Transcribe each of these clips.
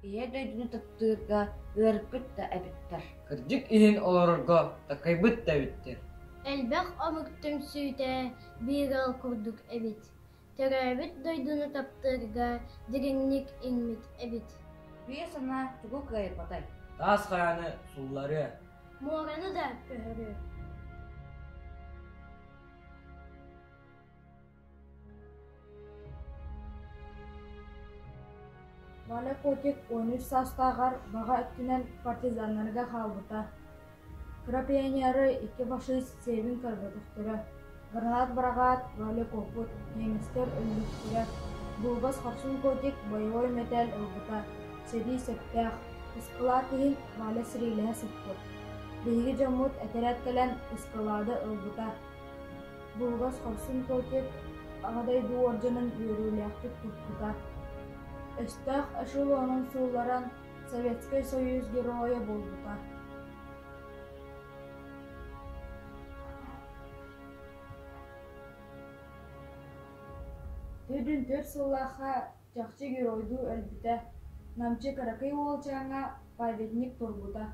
Ийэ дойдуну таптыырга ыарыппыт да эбиттэр. Кырдьык иһин олорорго такайбыт да эбиттэр. Элбэх омук түмсүүтэ биир ыал курдук эбит. Төрөөбүт дойдуну таптыырга дириҥник иҥмит эбит. Өй-санаа тугу кыайбатай? Таас хараны суулларыа. Муораны да көһөрүө. Валя Котик он үс саастааҕар баҕа өттүнэн партизаннарга хаалбыта. Кыра пионеры икки фашист сиэбин көрбөтөхтөрө, быраһаат-быраҕаат роликоппут, немецтэр өлбүттэрэ, булгас хорсун котик боевой мэтээл ылбыта, сэрии сөптөөх, ыскылаат иһин Валя сэриилэһэ сыппыт, биһиги дьоммут этэрээт кэлэн ыскылаады ылбыта, булгас хорсун котик Аҕа дойду уордьанын үөрүүлээхтик туппута, өстөөх эшелонун суулларан Советскай Союз Геройа буолбута Төрдүн төрт сыллаахха чахчы геройдуу өлбүтэ, намчы кыракый уолчааҥҥа памятник турбута.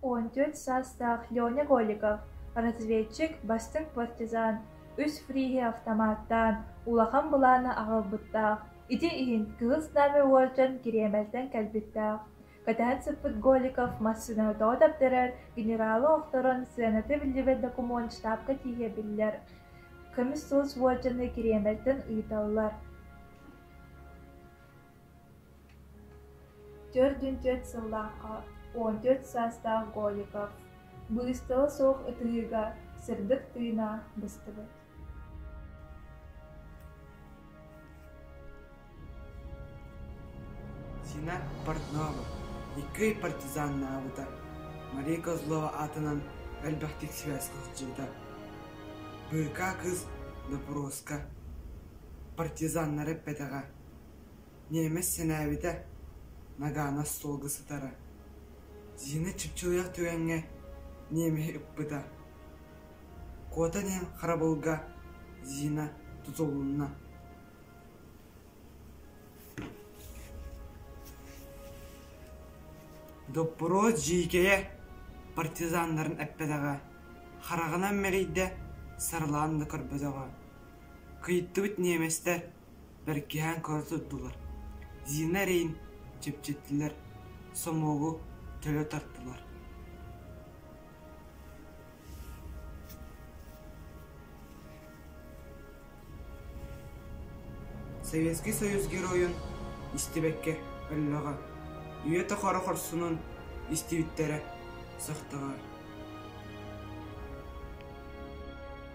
Он төрт саастаах Леня Голиков, разведчик, бастыҥ партизан, үс фриһи автоматтаан, улахан былааны аҕалбыттаах Ити иһин кыыс Наме уолдьан Кириэмэлтэн кэлбиттээх, кэтэһэн сыппыт Голиков массыынаны тоҕо таптарар генералы охторон сыаната биллибэт докумуон штабка тиийэ биллэр көмүс сулус уолдьаны Кириэмэлтэн ыыталлар Төрдүн төрт сыллаахха он төрт саастаах Голиков быыстала суох ытыһыыга сырдык тыына быстыбыт Сина Портнова икки партизаннаабыта Мария Козлова аатынан элбэхтик сибээскэ сылдьыбыта быыкаа кыыс доппуруоска партизаннары эппэтэҕэ ньиэмэс сэнээбитэ нагаана остуолга сытара Зина чыпчылыйах түгэҥҥэ ньиэмэһи ыппыта Куота иһин харабылга Зина тутулунна Доппуруос дьиикэйэ партизаннарын эппэтэҕэ, хараҕынан мэрийдэ, сарылаан да көрбөтөҕө. Кыйыттыбыт ньиэмэстэр бэркиһээн көрө турдулар, Зина эрэйин чэпчэттилэр, сомуогу төлө тартылар Советский Союз Геройун истибэккэ өллөҕө, үйэтэ хоро хорсунун истибиттэрэ сөхтөҕө